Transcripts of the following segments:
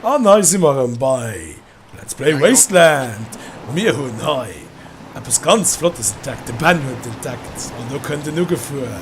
An hei si mer erëm bei Let's Play Wasteland. Mir hunn hei eppes ganz Flottes entdeckt, de Ben huet entdeckt an do kënnt en ugefuer.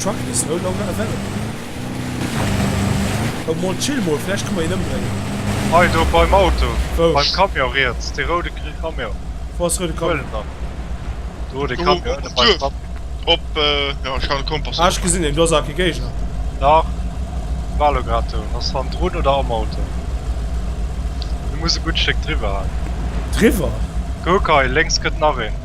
Truck is no longer available. Oh Mann, chill mol, vläicht kënne mer hien ëmbréngen. Hei do beim Auto, beim Camion riets, dee roude Camion. Wou ass roude Camion? Huel en dann. Do dee Camion ënne beim Tram. Op, jo ech hat e Kompass. Ah ech gesinn en, do ass awer kee Géigner. Dach, war elo grad do. Ass hannendrun oder am Auto? Hie muss e gutt Stéck driwwer halen. Driwwer? Kuck hei, lénks kënnt nach een.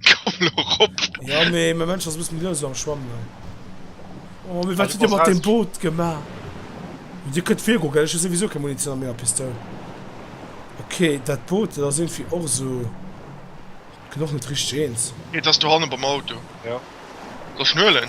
Komm lo rop! Ja mee mein Mensch ass e bëssen déi lues am Schwammen hei. Oh mee wat hutt dir mat dem Boot gemaach? Dir kënnt vir goen gell, ech hu souwisou keng Munition an menger Pistoul. Ok dat Boot dat ass irgendwie och esou, gëtt och net richteg eens. Et ass do hannen beim Auto. Jo. Soll ech den huelen?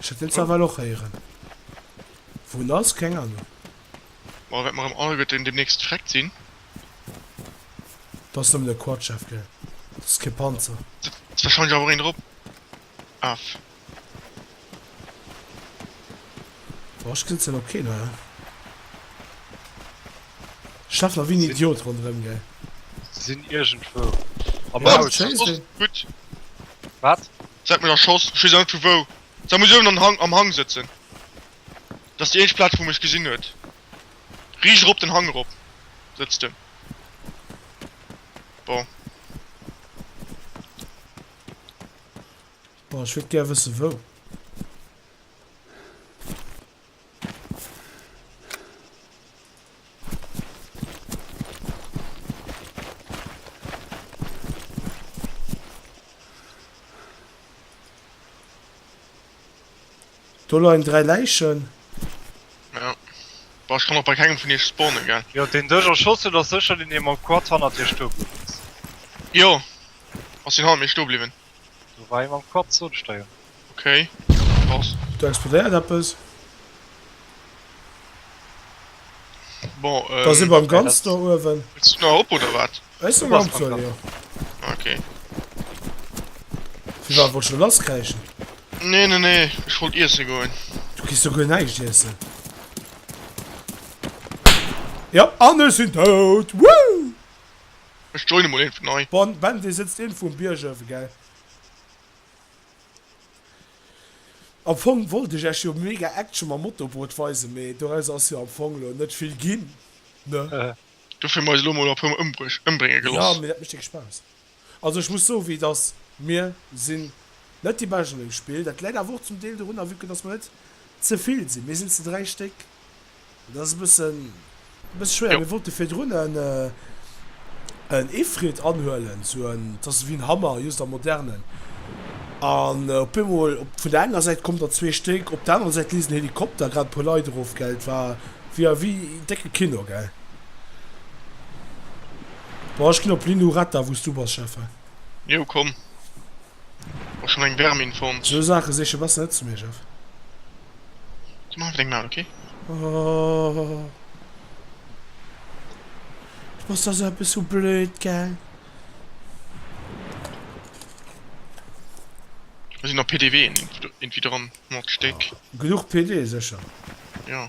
Ech hätt den Zerwall och héieren. Wou en ass? Keng Ahnung. Bon, wat mer am All gëtt en demnächst freckt sinn. Dass nëmmen e Quad schaf gell. Dass kee Panzer. Sëtzt wahrscheinlech awer och een drop. Aff. Boah ech kenzelen op keen Hall. Stafler wéi en Idiot ronderem gell. Se sinn iergendwou am Haus. Wat? Seit menger Schoss, ech wees awer net vu wou. Se muss uewen an Hang am Hang sëtzen. Dat ass déi eenzeg Plaatz wou mech gesinn huet. Riicht erop den Hang erop sëtzt en. Bon. Bon, ech wëllt gär wëssen wou. Do leien 3 Läichen. Ja. Boah, ich kann auch bei keinem von iech spawnen, gell? Jo, deen dech erschoss huet ass sécher deen dee mam Quad hannert dir stoe bliwwen ass. Jo, ass deen hannert mir stoe bliwwen. Do war ee mam Quad zon steien. Ok, krass. Do explodéiert eppes. Bon, ähm. Da si mer am ganz do uewen. Wëlls du nach op, oder wat? Ech sinn am Opzug, jo. Ok. Firwat, wollts du lass kräischen? Nee, nee, nee, ech wollt iesse goen. Du kriss do guer näischt iessen. Jo, an ech sinn dout! Wouh! Ech joine mol eenvt nei. Bon ben dee sëtzt eenfu um Bierg ëwen gell. Am Fong wollt ech ech jo mega Action mam Motorboot weisen mee doraus ass jo am Fong lo net vill ginn ne. Dofir hu mer eis elo mol e puer mol ëmbrénge geloss. Jo mee dat mecht dicke Spaass. Also ech muss soe wéi dass mir sinn net déi bescht an dem Spill. Dat läit awer och zum Deel dorunner vue que dass mer net zevill sinn. Mir sinn ze 3 Stéck Dat ass e bëssen, e bësse schwéier. Mir wollte virdrun en, en Efriet anhuelen, sou en, dat ass ewéi en Hammer, just am Modernen. An op eemol, op, vun der enger Säit kommen der zwee Stéck, op der anerer Säit leest en Helikopter grad e puer Leit erof, gell. Et war ewéi, ewéi en décke Kino, gell. Bon, ech ginn op Lilou Ratta, wou s du bass, Schäffen. Jo, komm. Och schon eng Vermin fonnt. Sou Saache siche bass net zu mir Jeff. Ze man eng Maul okay. Oh. Was ass eppes sou blöd gell? Mir sinn op PDW in, infi dran, mod Stéck. Genuch PD secher. Jo.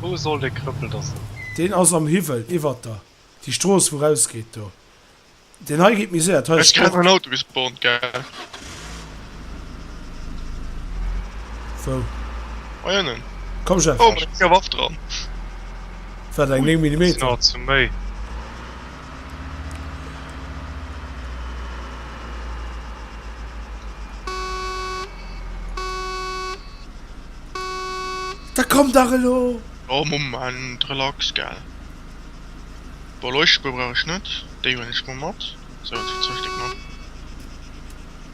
Wou soll dee Krëppel da sinn? Deen ass am Hiwwel, iwwert der. Déi Strooss, wou rausgeet do. Deen hei geet méi séier. Ech kenne en Autobuspont, gell? Wou? Hei ënnen. Komm, Jeff. Oh, mat enger Waff dran. Wat, eng 9 Millimeter? Sinn awer ze méi. Da komm dach elo! Oh Moment, relax gell. Bon, Leuchtspuer brauch ech net, déi huelen ech mol mat. Sou, zwou Stéck nach.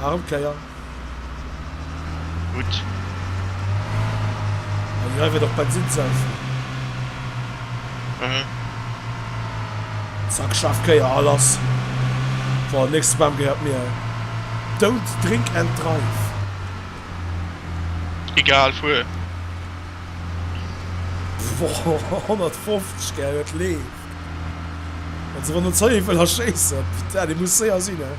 Nach eng Kéier. Gutt. An hei wier nach Bensinn sech. Mhm. Zack, scharf Kéier a lass. Boah, den nächste Bam gehéiert mir. Don't drink and drive. Egal, fuer. Boah, 150, gell, huet Lee. Wann se ronn zéien wëll erschéissen. Putain dee muss séier sinn he.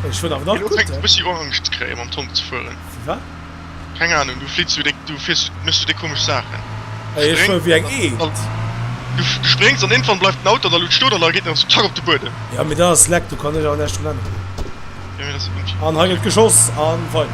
Ech fuer awer nach Elo fänkt en e gutt. bëssi u Angscht ze kréien mam Tomb ze fueren. Wéi wat? Keng Ahnung, du flitts wéi déck, du fiers, méchs wéi déck komesch Saachen. Hei ech fuer wéi eng Eend. Du spréngs an iergendwann bleift den Auto an der Luut stoen an da geet en erëm zack op de Buedem. Jo mee dat ass leck, do kann ech awer näischt drun änneren. An hei gëtt geschoss a weider.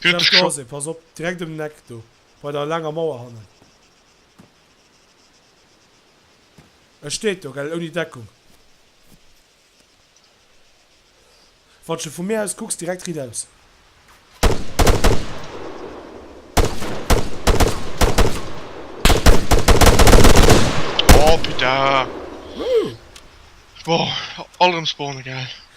Fier dech scho. Dansé, pass op, direkt um Neck do bei der laanger Mauer hannen. E steet do, gell, ouni Deckung. Wann s de vu mir aus kucks, direkt riit aus. Oh putain. Wouh. Boah, all erëm spawnen, gell.